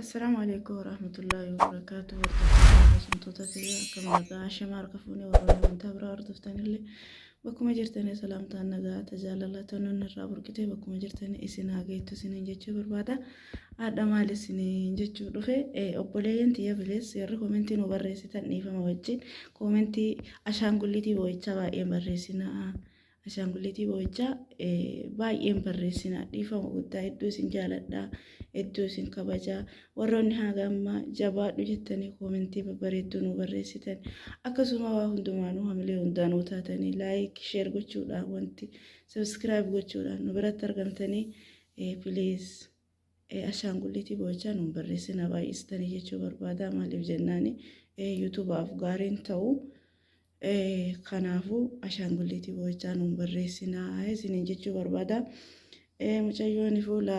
Assalaamu alaikum warahmatullahi wabarakaatu hordoftoota haasamtoota kiyya akkam nagaa hashama harka fuunee warroonni amantaa biraa hordoftanillee bakkuma jirtanii salaamtaan nagaa tajaajila tonuun irraa burqitee bakkuma jirtanii isin haa geettu isiniin jechuu barbaada haadha maal isiniin jechuu dhufe obboleeyyan tiyya bilees warri koomentii nu barreessitan dhiifama wajjin koomentii ashaangulliitii boo'ichaa baay'een barreessinaa Ashaangulitii boo'ichaa baay'een barreessina dhiifama guddaa hedduu isin jaaladha hedduu isin kabaja warroonni haga ammaa jabaadhu jettanii koomentii babbareedduu nu barreessitan akkasuma waa hundumaanuu hamilee hundaanuu taatanii laayik sheer gochuudhaan wanti sabiskiraayib gochuudhaan nu biratti argamtanii piliis Ashaangulliitii boo'ichaa nuun barreessinaa baay'istanii jechuu barbaadaa maaliif jennaani yuutubaaf gaariin ta'u kanaafuu ashaangulliitii boo'ichaa nuun barreessinaa isiniin jechuu barbaadaa mucayyoon fuula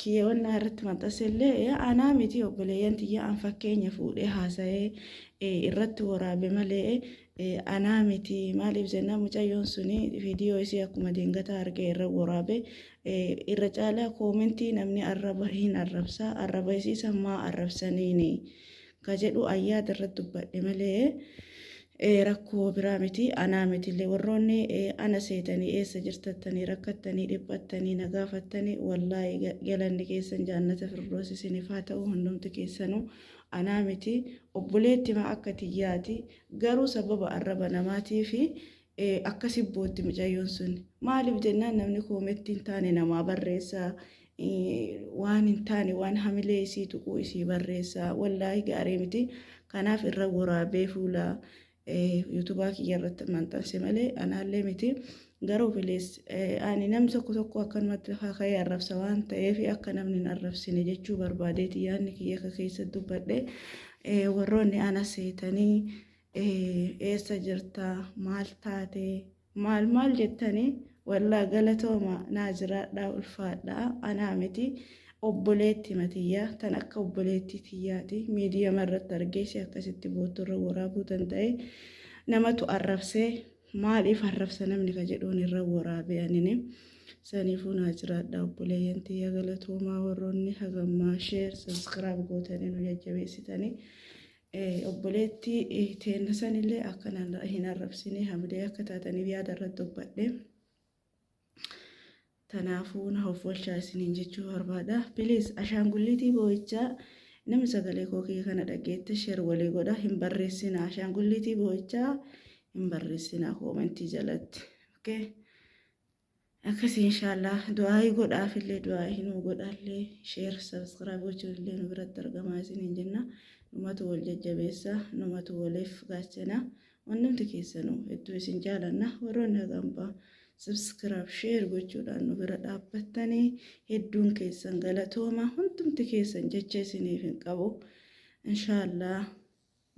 kiyyawannaa irratti maxxansillee anaa miti obboleeyyan tiyya an fakkeenya fuudhee haasa'ee irratti waraabe malee Anaa miti maaliif jennaan mucayyoon suni viidiyoo isii akkuma deengataa argee irra woraabe irra caalaa koomentii namni arraba hin arrabsa arraba isii san maa arrabsaniini ka jedhu ayyaada irra dubbadhe malee rakkoo biraa miti anaa mitillee warroonni ana seetanii eessa jirtattanii rakkattanii dhiphattanii na gaafattanii wallaahi galanni keessan jaannata firdoos isiniif haa ta'u hundumti keessanuu anaa miti obboleettima akka tiyyaati garuu sababa arraba namaatiifi akkasi bootti micayyoon sun maaliif jennaan namni koometti hin taane namaa barreessa waan hin taane waan hamilee isii tuquu isii barreessa wallaahi gaarii miti kanaaf irra waraabee fuula Yuutubaa kiyya irratti maxxanse malee anaallee miti. Garuu bilees ani nam tokko tokko akkanumatti lafaa ka'ee arrabsa waan ta'eef akka namni hin arrabsine jechuu barbaadeeti yaadni kiyya akka keessa dubbadhe warroonni ana seetanii eessa jirta maal taate Maal maal jettani wallah galatooma naa jiraadhaa ulfaadhaa anaa miti obboleettima tiyya tan akka obboleettii tiyyaati miidiyama irratti argee si akkasitti boottu irra woraabuu danda'e namatu arrabse maaliif arrabsa namni ka jedhuun irra woraabe anini saniifuu naa jiraadhaa obboleeyyan tiyya galatoomaa warroonni hagammaa sheer saskiraab gootanii nu jajjabeessitanii Obboleettii teenna sanillee akkanaan hin arrabsine hamilee akka taataniif yaada irratti dubbadhe. Tanaafuu na hoffolchaa isiniin jechuu barbaada. Piliis ashaangulliitii boo'ichaa namni sagalee koo kiyya kana dhageette sheer walii godha hin barreessinaa ashaangulliitii boo'ichaa hin barreessinaa koomentii jalatti. Okay? Akkasi inshallah du'aayi godhaaf illee du'aayi nuu godhaallee share subscribe gochuun illee nu biratti argamaa isiniin jenna numatu wal jajjabeessa numatu waliif gaachana hundumti keessanu hedduu isin jaalanna warroonni hagambaa subscribe share gochuudhaan nu bira dhaabbattanii hedduun keessan galatooma hundumti keessan jecha isiniif hin qabu inshallah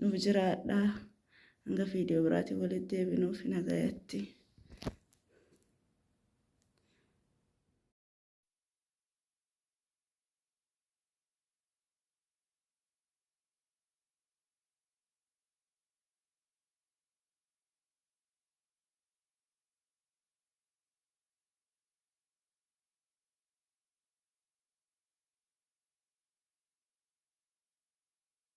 Nuuf jiraadha. Hanga viidiyoo biraatiin walitti deebinuuf nagayatti.